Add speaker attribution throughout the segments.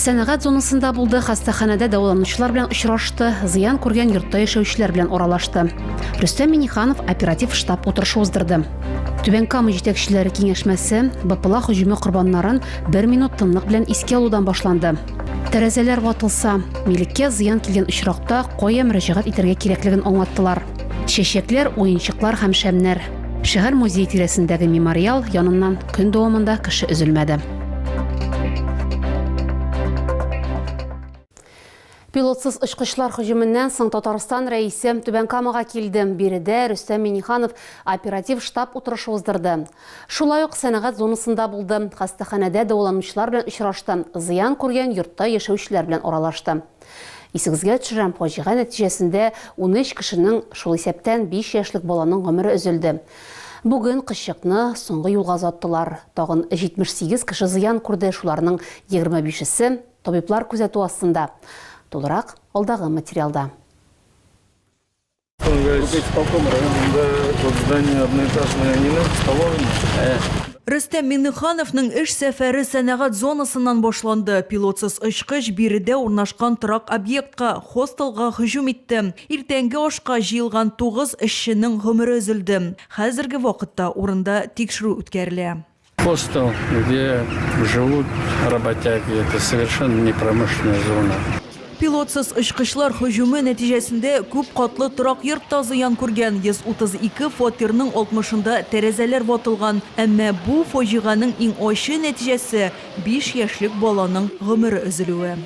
Speaker 1: Сәнәгать зонасында булды, хастаханәдә дәваланучылар белән очрашты, зыян күргән йортта яшәүчеләр белән аралашты. Рөстәм Миниханов оператив штаб утырышы уздырды. Түбән Кама җитәкчеләре киңәшмәсе БПЛА һөҗүме корбаннарын бер минут тынлык белән искә алудан башланды. Тәрәзәләр ватылса, милеккә зыян килгән очракта кая мөрәҗәгать итәргә кирәклеген аңлаттылар. Чәчәкләр, уенчыклар һәм шәмнәр. Шәһәр музей тирәсендәге мемориал яныннан көн дәвамында кеше өзелмәде. Пилотсыз очкычлар хөҗүменнән соң Татарстан рәисе Түбән Камага килде. Биредә Рөстәм Миниханов оператив штаб утырышы уздырды. Шулай ук сәнәгать зонасында булды, хастаханәдә дәваланучылар белән очрашты, зыян күргән йортта яшәүчеләр белән аралашты. Исегезгә төшерәм, фаҗига нәтиҗәсендә унөч кешенең, шул исәптән биш яшьлек баланың гомере өзелде. Бүген кызчыкны соңгы юлга озаттылар. Тагын 78 кеше зыян күрде, шуларның егерме бишесе табиблар күзәтү астында. Тулырак алдагы материалда.
Speaker 2: Рөстәм Миңнехановның эш сәфәре сәнәгать зонасыннан башланды. Пилотсыз очкыч биредә урнашкан торак объектка, хостелга һөҗүм итте. Иртәнге ашка җыелган тугыз эшченең гомере өзелде. Хәзерге вакытта урында тикшерү үткәрелә. Хостел,
Speaker 3: где живут работяги, это совершенно не промышленная зона. Пилотсыз
Speaker 2: очкычлар һөҗүме нәтиҗәсендә күп катлы торак йорт та зыян күргән, 132 фатирның 60-ында тәрәзәләр ватылган. Әмма бу фаҗиганең иң ачы нәтиҗәсе, 5 яшьлек баланың гомере өзелүе.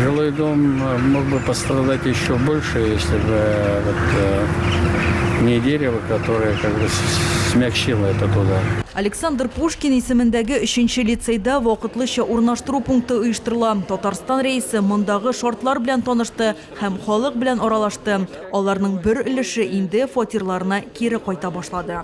Speaker 2: Жилой дом
Speaker 3: э, мог бы пострадать еще больше, если бы э, вот, э, не дерево, которое как бы смягчило этот удар. Александр Пушкин
Speaker 2: исемендәге өченче лицейда вакытлыча урнаштыру пункты оештырыла. Татарстан рәисе мондагы шартлар белән танышты һәм халык белән аралашты. Аларның бер өлеше инде фатирларына кире кайта башлады.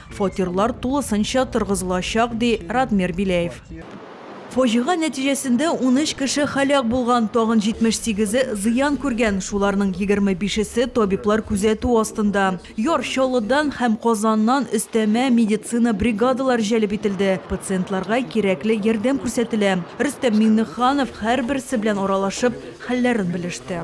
Speaker 2: Фатирлар тулысынча торгызылачак, ди Радмир Биләев. Фаҗига нәтиҗәсендә унөч кеше һәлак булган, тагын 78-е зыян күргән, шуларның егерме бишесе табиблар күзәтү астында. Яр Чаллыдан һәм Казаннан өстәмә медицина бригадалары җәлеп ителде, пациентларга кирәкле ярдәм күрсәтелә. Рөстәм Миңнеханов һәрберсе белән аралашып, хәлләрен белеште.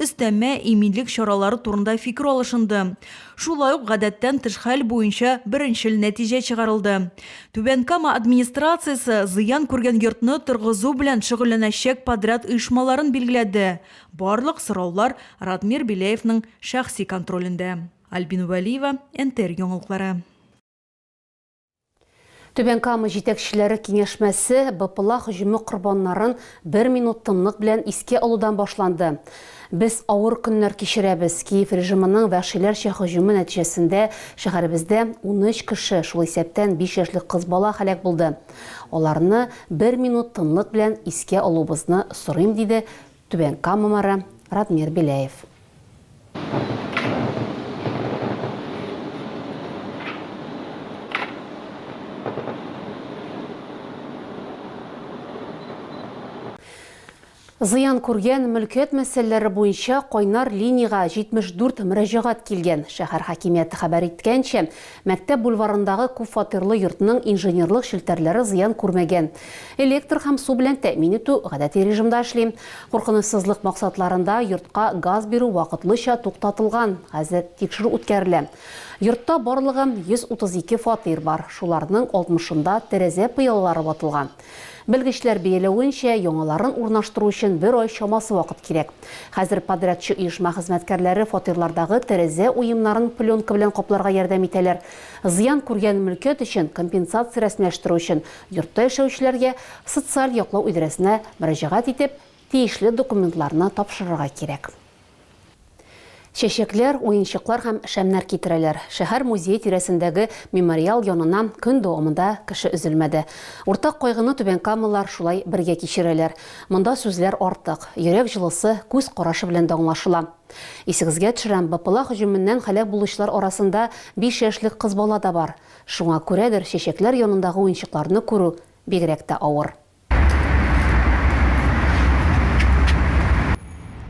Speaker 2: Өстәмә иминлек чаралары турында фикер алышынды. Шулай ук гадәттән тыш хәл буенча беренчел нәтиҗә чыгарылды. Түбән Кама администрациясе зыян күргән йортны торгызу белән шөгыльләнәчәк подряд оешмаларын билгеләде. Барлык сораулар Радмир Беляевның шәхси контролендә. Альбина Вәлиева, НТР яңалыклары.
Speaker 1: Түбән Кама җитәкчеләре киңәшмәсе БПЛА һөҗүме корбаннарын бер минут тынлык белән искә алудан башланды. Без авыр көннәр кичерәбез. Киев режимының вәхшиләрчә һөҗүме нәтиҗәсендә шәһәребездә унөч кеше, шул исәптән биш яшьлек кыз бала һәлак булды. Аларны бер минут тынлык белән искә алуыбызны сорыйм, диде Түбән Кама мэры Радмир Беляев. Зыян күргән мөлкәт мәсьәләләре буенча кайнар линиягә 74 мөрәҗәгать килгән. Шәһәр хакимияте хәбәр иткәнчә, Мәктәп бульварындагы күпфатирлы йортның инженерлык челтәрләре зыян күрмәгән. Электр һәм су белән тәэмин итү гадәти режимда эшли. Куркынычсызлык максатларында йортка газ бирү вакытлыча туктатылган, хәзер тикшерү үткәрелә. Йортта барлыгы 132 фатир бар, шуларның 60-ында тәрәзә пыялалары ватылган. Белгечләр бәяләвенчә, яңаларын урнаштыру өчен бер ай чамасы вакыт кирәк. Хәзер подрядчы оешма хезмәткәрләре фатирлардагы тәрәзә уемнарын пленка белән капларга ярдәм итәләр. Зыян күргән мөлкәт өчен компенсация рәсмиләштерү өчен йортта яшәүчеләргә социаль яклау идарәсенә мөрәҗәгать итеп, тиешле документларны тапшырырга кирәк. Чәчәкләр, уенчыклар һәм шәмнәр китерәләр. Шәһәр музее тирәсендәге мемориал янына көн дәвамында кеше өзелмәде. Уртак кайгыны түбәнкамалылар шулай бергә кичерәләр. Монда сүзләр артык, йөрәк җылысы күз карашы белән дә аңлашыла. Исегезгә төшерәм, БПЛА һөҗүменнән һәлак булучылар арасында биш яшьлек кыз бала да бар. Шуңа күрәдер, чәчәкләр янындагы уенчыкларны күрү бигрәк тә авыр.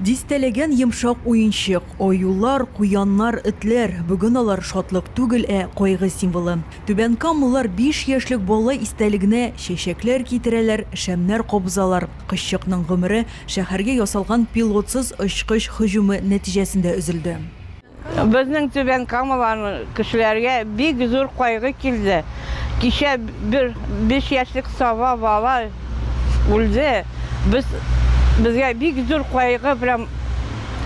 Speaker 2: Дистәләгән йомшак уенчык, аюлар, куяннар, этләр, бүген алар шатлык түгел, ә кайгы символы. Түбәнкамлылар биш яшьлек бала истәлегенә чәчәкләр китерәләр, шәмнәр кабызалар. Кызчыкның гомере шәһәргә ясалган пилотсыз очкыч һөҗүме нәтиҗәсендә өзелде. Безнең
Speaker 4: Түбән Камаларны кешеләргә бик зур кайгы килде. Кичә бер 5 яшьлек саба бала үлде. Без безгә бик зур кайгы прям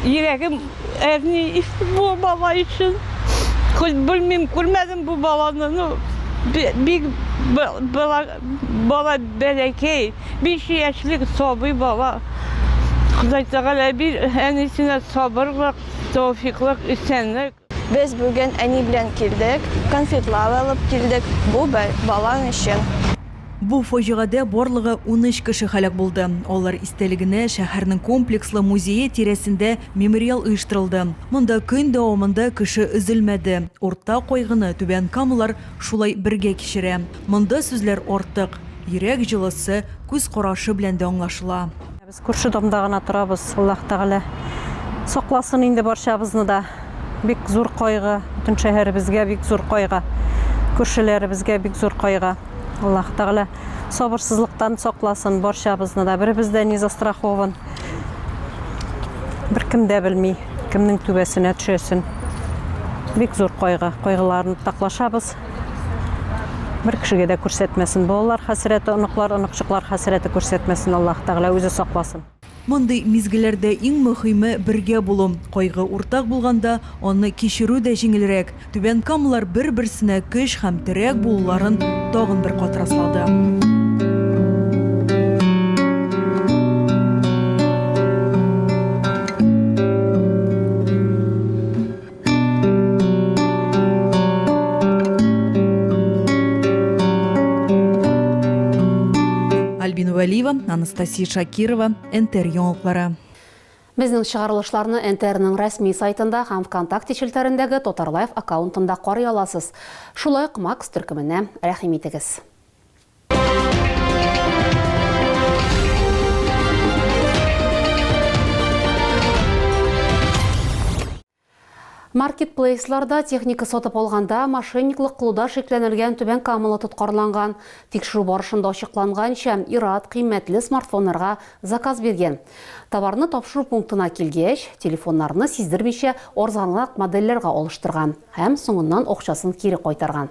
Speaker 4: йөрәгем әрни бу бала өчен. Хоть белмим, күрмәдем бу баланы, ну бик бала бала бәләкәй, 5 яшьлек сабый бала. Ходай Тәгалә бир әнисенә сабырлык. Тәүфиклык, исәнлек. Без бүген
Speaker 5: әни белән килдек, конфетлар алып килдек, бу бер балаң өчен. Бу
Speaker 2: фаҗигадә барлыгы унөч кеше һәлак булды. Алар истәлегенә шәһәрнең комплекслы музее тирәсендә мемориал оештырылды. Монда көн дәвамында кеше өзелмәде. Уртак кайгыны Түбән Камалар шулай бергә кичерә. Монда сүзләр артык. Йөрәк җылысы күз карашы белән дә аңлашыла. Күрше домда
Speaker 6: гына торабыз, Аллаһ Тәгалә сакласын инде барчабызны да. Бик зур кайгы, бөтен шәһәребезгә бик зур кайгы, күршеләребезгә бик зур кайгы. Аллаһ Тәгалә сабырсызлыктан сакласын барчабызны да. Беребез дә не застрахован. Беркем дә белми, кемнең түбәсенә төшәсен. Бик зур кайгы, кайгыларны уртаклашабыз. Бер кешегә дә күрсәтмәсен. Балалар хәсрәте, оныклар, оныкчыклар хәсрәте күрсәтмәсен Аллаһ Тәгалә, үзе сакласын. Мондый
Speaker 2: мизгелләрдә иң мөхиме бергә булу. Кайгы уртак булганда, аны кичерү дә җиңелрәк. Түбән Камалар бер-берсенә көч һәм терәк булуларын тагын бер кат раслады. Альбина Валиева, Анастасия Шакирова, НТР яңалыклары. Безнең
Speaker 1: чыгарылышларны НТРның рәсми сайтында һәм ВКонтакте челтәрендәге Татарлайф аккаунтында карый аласыз. Шулай ук Макс төркеменә рәхим итегез. Маркетплейсларда техника сатып алганда мошенниклык кылуда шикләнелгән түбән камалы тоткарланган. Тикшерү барышында ачыкланганча, ир-ат кыйммәтле смартфоннарга заказ биргән. Товарны тапшыру пунктына килгәч, телефоннарны сиздермичә арзанрак модельләргә алыштырган һәм соңыннан акчасын кире кайтарган.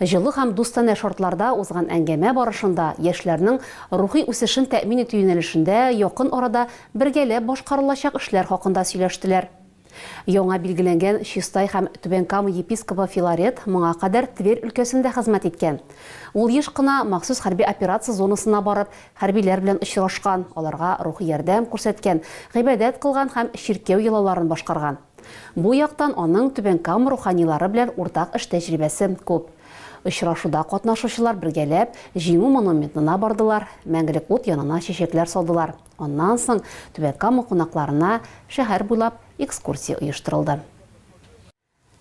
Speaker 1: Җылы һәм дустанә шартларда узган әңгәмә барышында яшьләрнең рухи үсешен тәэмин итү юнәлешендә якын арада бергәләп башкарылачак эшләр хакында сөйләштеләр. Яңа билгеләнгән Чистай һәм Түбән Кама епископы Филарет моңа кадәр Тверь өлкәсендә хезмәт иткән. Ул еш кына махсус хәрби операция зонасына барып, хәрбиләр белән очрашкан, аларга рухи ярдәм күрсәткән, гыйбадәт кылган һәм чиркәү йолаларын башкарган. Бу яктан аның Түбән Кама руханилары белән уртак эш тәҗрибәсе күп. Очрашуда катнашучылар бергәләп Җиңү монументына бардылар, Мәңгелек ут янына чәчәкләр салдылар. Аннан соң Түбән Кама кунакларына шәһәр буйлап экскурсия оештырылды.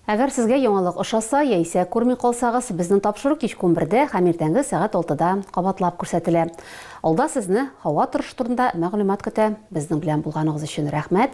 Speaker 1: Әгәр сезгә яңалык ошаса яисә күрми калсагыз, безнең тапшыру кичке унбердә һәм иртәнге сәгать алтыда кабатлап күрсәтелә. Алда сезне һава торышы турында мәгълүмат көтә. Безнең белән булганыгыз өчен рәхмәт!